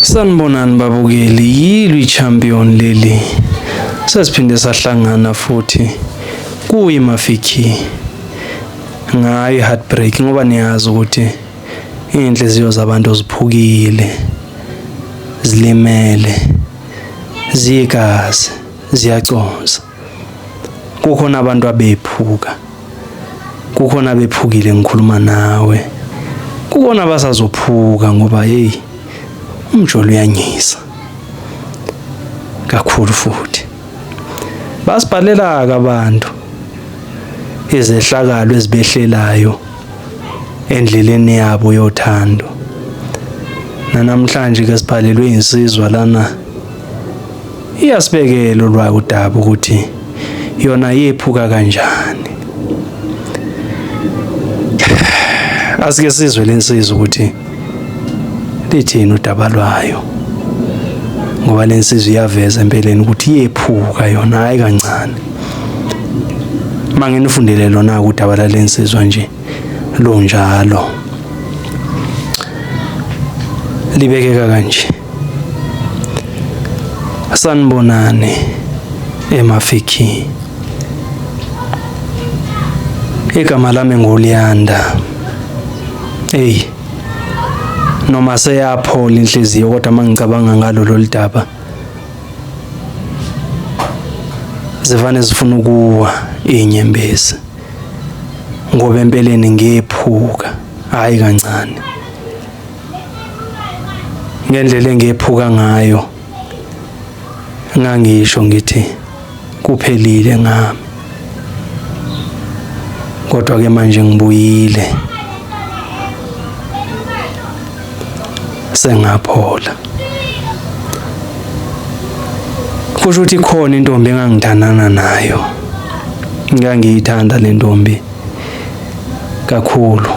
Sanibonani babukeli, yilwi champion leli. Sesiphinde sahlangana futhi kuyi Mafiki. Ngayi heartbreak ngoba niyazi ukuthi inhliziyo zabantu ziphukile. Zilimele. Zigazi, ziyaconsa. kukhona abantu abephuka kukhona abephukile ngikhuluma nawe kukhona abasazophuka ngoba hey umjolo uyanyisa kakhulu futhi basibhalela abantu izehlakalo ezibehlelayo endleleni yabo yothando nanamhlanje ke sibhalelwe insizwa lana Iyasibekela olwayo udaba ukuthi yona yephuka kanjani. Asike sizwe lensizwa ukuthi lithini udaba lwayo. Ngoba lensizwa iyaveza empeleni ukuthi yephuka yona hayi kancane. Manginifundele lona udaba lalensizwa nje lunjalo. Libekeka kanje. Sanibonani eMafiki. Igama lami nguLiyanda. Hey. Noma seyaphola inhliziyo kodwa mangicabanga ngalo lolidaba. Zivane zifuna ukuwa inyembezi. Ngoba empeleni ngephuka, hayi kancane. ngendlela engephuka ngayo ngangisho ngithi kuphelile ngami kodwa ke manje ngibuyile sengaphola kusho ukuthi khona intombi engangithandana nayo ngangiyithanda le ntombi kakhulu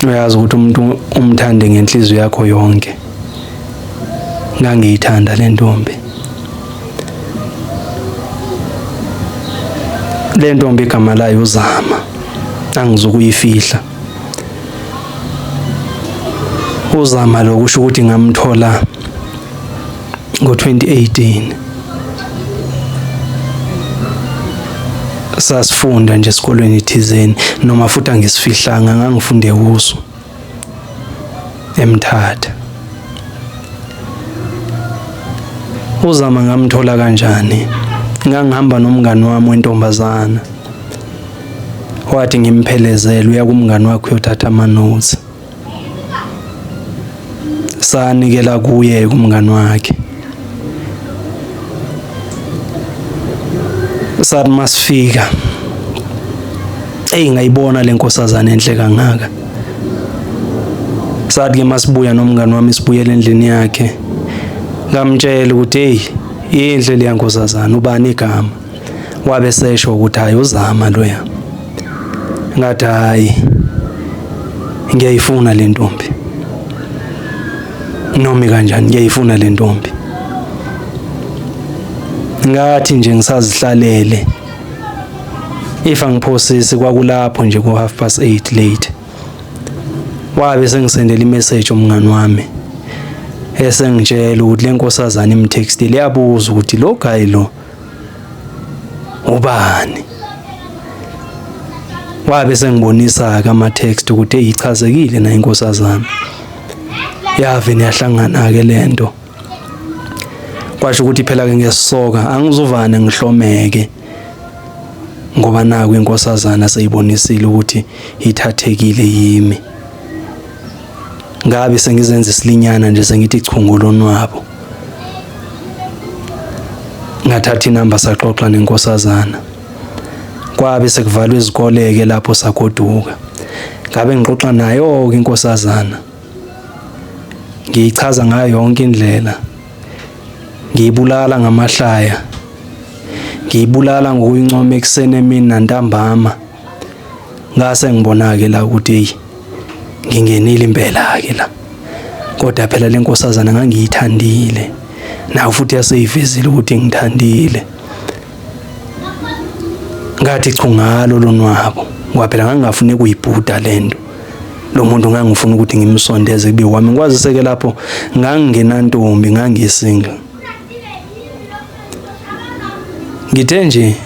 uyazi ukuthi umuntu umthande ngenhliziyo yakho yonke ngangiyithanda le ntombi le ntombi igama layo uzama angizukuyifihla uzama lokusho ukuthi ngamthola ngo-2018 sasifunda nje esikolweni thizeni noma futhi angisifihlanga ngangifunde kuso emthatha uzama ngamthola kanjani ngangihamba nomngani wami wentombazana wathi ngimphelezele uya kumngani wakho uyothatha amanothi sanikela kuye kumngani wakhe sathi masifika eyi ngayibona le nkosazana enhle kangaka sathi ke masibuya nomngani wami sibuyele endlini yakhe ngamtshela ukuthi hey inhle leya nkosazana ubani igama wabe sesho ukuthi hayi uzama loya ngathi hayi ngiyayifuna le ntombi noma kanjani ngiyayifuna le ntombi ngathi nje ngisazihlalele if angiphosisi kwakulapho nje ku half past 8 late wabe sengisendela imessage umngani wami esengitshela ukuthi lenkosazana imtextile yabuza ukuthi lo guy lo ubani wabe sengibonisa ke ama text ukuthi eyichazekile na inkosazana yave niyahlangana ke lento kwasho ukuthi phela ke ngesoka angizuvane ngihlomeke ngoba naku inkosazana seyibonisile ukuthi ithathekile yimi ngabe sengizenza isilinyana nje sengithi chungu lonwabo ngathatha inamba saxoxa nenkosazana kwabe sekuvalwa izikoleke lapho sagoduka ngabe ngixoxa nayo inkosazana ngiyichaza ngayo yonke indlela ngiyibulala ngamahlaya ngiyibulala ngokuyincoma ekuseni emini nantambama ngase ngibona-ke la ukuthi eyi ngingenile impela-ke la kodwa phela le nkosazana ngangiyithandile nayo futhi yaseyivezile ukuthi ngithandile ngathi chu ngalo lonwabo ngoba phela ngangingafuni kuyibhuda le nto lo muntu ngangifuna ukuthi ngimsondeze kube wami ngikwaziseke lapho ngangingenantombi ngangisingle ngithe nje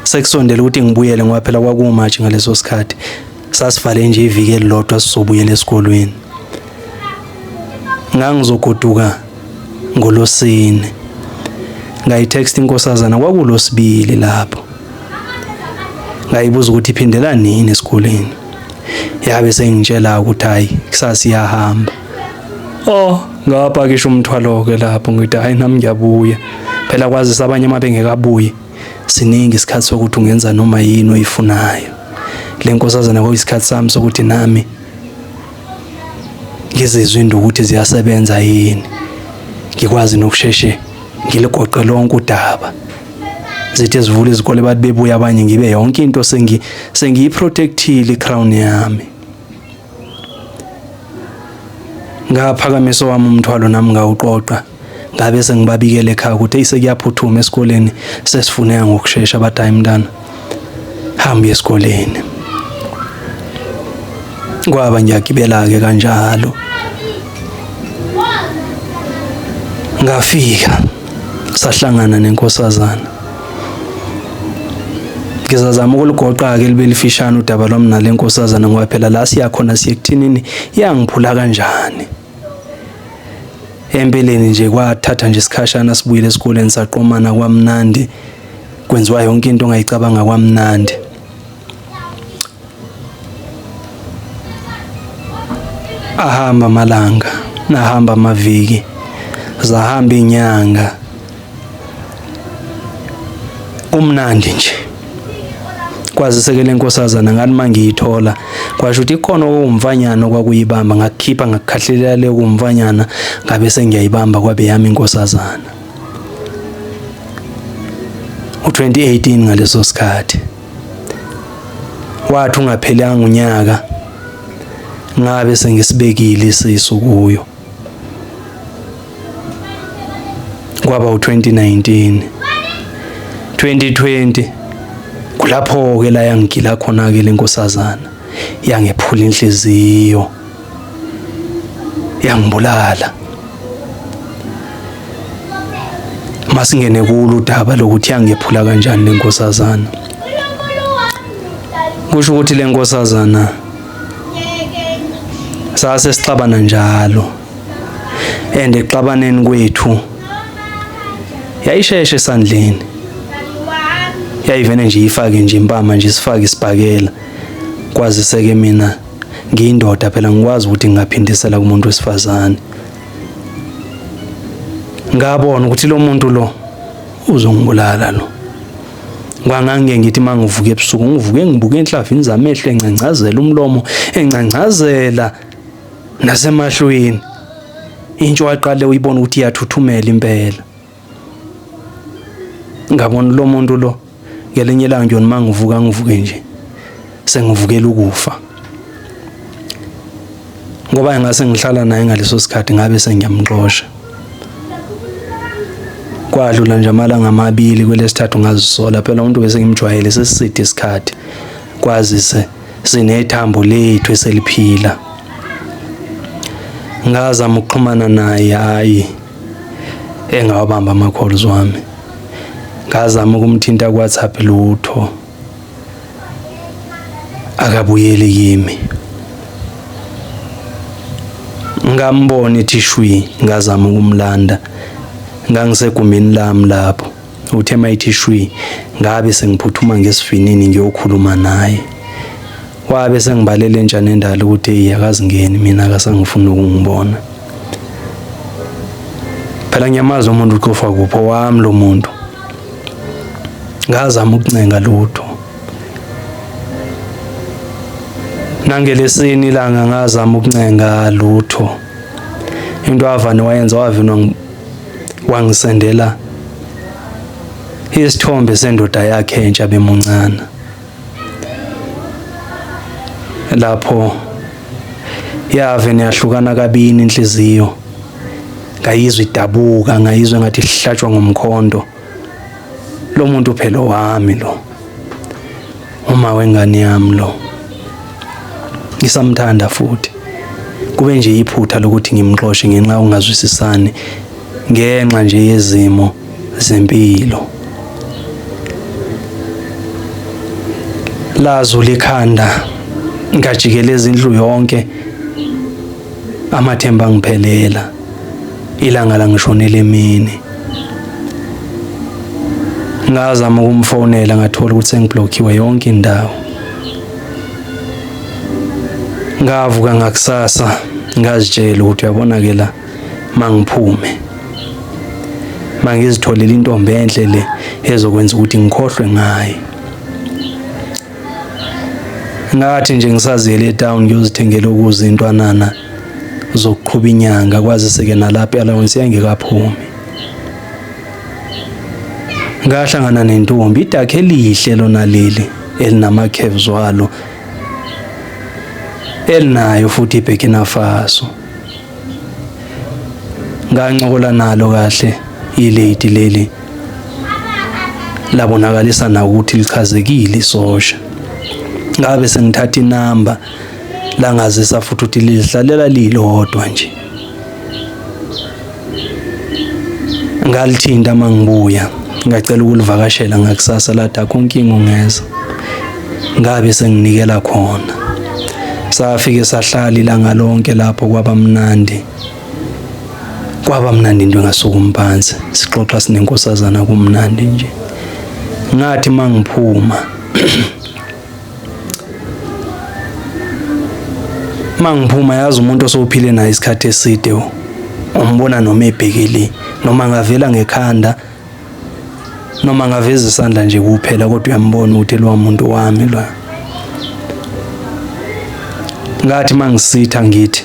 sekusondela ukuthi ngibuyele ngoba phela kwakuwumatshi ngaleso sikhathi sasivale nje iviki elilodwa sizobuyela esikolweni ngangizogoduka ngolosine ngayitext inkosazana kwakulosibili lapho ngayibuza ukuthi iphindela nini esikoleni yabe sengitshela ukuthi hayi kusasa iyahamba oh ngapakisha umthwalo ke lapho ngithi hayi nami ngiyabuya phela kwazisa abanye uma bengekabuye siningi isikhathi sokuthi ungenza noma yini oyifunayo le nkosazana kwakuyisikhathi sami sokuthi nami ngizizwe into ukuthi ziyasebenza yini ngikwazi nokusheshe ngiligoqe lonke udaba zithe zivula izikole bathi bebuya abanye ngibe yonke into sengi sengiyiprotectile icrown yami Ngaphakamisa owami umthwalo nami ngawuqoqa ngabe sengibabikele ekhaya ukuthi isekuyaphuthuma esikoleni sesifuneka ngokushesha bathi hayi mntana hamba esikoleni kwaba ngiyagibela-ke kanjalo ngafika sahlangana nenkosazana ngizazama ukulugoqa-ke libe lifishane udaba lwami nale nkosazana ngoba phela la siyakhona siye kuthinini yangiphula kanjani empeleni nje kwathatha nje isikhashana sibuyile esikoleni saqomana kwamnandi kwenziwa yonke into ongayicabanga kwamnandi Ahamba amalanga, nahamba amaviki, zahamba inyanga. Kumnandi nje. Kwazise ke lenkosazana ngani mangiyithola kwasho ukuthi ikhona okumfanyana okwakuyibamba ngakukhipha ngakukhahlelea le kumfanyana ngabe sengiyayibamba kwabe yami inkosazana. U2018 ngaleso sikhathi. wathi ungaphelanga unyaka ngabe sengisibekile isisu kuyo kwaba u2019 2020 kulapho ke la yangigila khona ke lenkosazana yangephula inhliziyo yangibulala masingene kulo udaba lokuthi yangephula kanjani lenkosazana kusho ukuthi lenkosazana sase sixabana njalo and exabaneni kwethu yayisheshe esandleni yayivene nje ifake nje impama nje sifake isibhakela kwazise ke mina ngiyindoda phela ngikwazi ukuthi ngingaphindisela kumuntu wesifazane ngabona ukuthi lo muntu lo uzongibulala lo kwangange ngithi mangivuke ebusuku ngivuke ngibuke enhlavini zamehlo encangcazela umlomo encangcazela nasemahlweni intsho waqale uyibona ukuthi iyathuthumela impela ngabona lo muntu lo ngelinye ilanga nje uma ngivuka ngivuke nje sengivukela ukufa ngoba engase ngihlala naye ngaleso sikhathi ngabe sengiyamxosha kwadlula nje amalanga amabili kwelesithathu ngazisola phela umuntu bese ngimjwayele sesiside isikhathi kwazise sinethambo lethu eseliphila ngazama ukuxhumana naye hayi engawabamba ama-calls wami ngazama ukumthinta ku-whatsapp lutho akabuyeli kimi ngambona ethishwi ngazama ukumlanda ngangisegumbini lami lapho Uthe mayithi shwi ngabe sengiphuthuma ngesivinini ngiyokhuluma naye. Wabe sengibalele entsha nendala ukuthi eyi akazingeni mina akasangifuni ukungibona. Phela ngiyamazi umuntu ucofa kuphi owami lo muntu. Ngazama ukuncenga lutho. Nangelesini ilanga ngazama ukuncenga lutho. Into avane wayenza wavinwa wangisendela isithombe sendoda yakhe entsha bemuncane lapho yave niyahlukana kabini inhliziyo ngayizwa idabuka ngayizwa ngathi ihlatshwa ngomkhondo lo muntu phela owami lo uma wengane yami lo ngisamthanda futhi kube nje iphutha lokuthi ngimxoshe ngenxa ungazwisisani ngenxa nje yezimo zempilo lazo likhanda ngajikeleza indlu yonke amathemba ngiphelela ilanga langishonela emini ngazama ukumfonela ngathola ukuthi sengiblockiwe yonke indawo ngavuka ngakusasa ngazitshela ukuthi uyabona ke la mangiphume mangizitholele intombi enhle le ezokwenza ukuthi ngikhohlwe ngaye ngathi nje ngisaziyele etown ngiyozithengela ukuze intwanana zokuqhuba inyanga kwazise-ke nalapho i-allowance yayingekaphumi ngahlangana nentombi idakhe elihle lona leli elinama-caves walo elinayo futhi iburkina faso ngancokola nalo kahle ilady leli labonakalisa na ukuthi lichazekile isosha ngabe sengithatha inamba langazisa futhi ukuthi lihlalela lilodwa nje ngalithinta mangibuya ngacela ukulivakashela ngakusasa lathi akho nkinga ungeza ngabe senginikela khona safike sahlala ilanga lonke lapho kwaba mnandi kwaba mnandi into engasukumi phansi sixoxa sinenkosazana kumnandi nje ngathi mangiphuma mangiphuma yazi umuntu osophile naye isikhathi eside umbona noma ebhekile noma ngavela ngekhanda noma ngaveza isandla nje kuphela kodwa uyambona ukuthi lo muntu wami lo ngathi mangisitha ngithi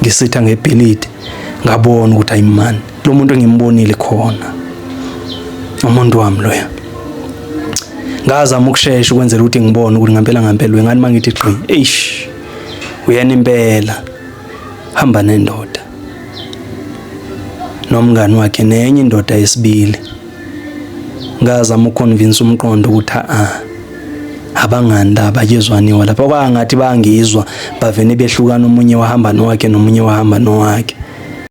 ngisitha ngebhilidi ngabona ukuthi ayimani lo muntu engimbonile khona umuntu wami loya ngazama ukushesha ukwenzela ukuthi ngibone ukuthi ngampela ngampela wengani mangithi gqi eish uyena impela hamba nendoda nomngani wakhe nenye indoda yesibili ngazama ukuconvince umqondo ukuthi a abangani laba kezwaniwa lapha kwangathi bangizwa bavene behlukana omunye wahamba nowakhe nomunye wahamba nowakhe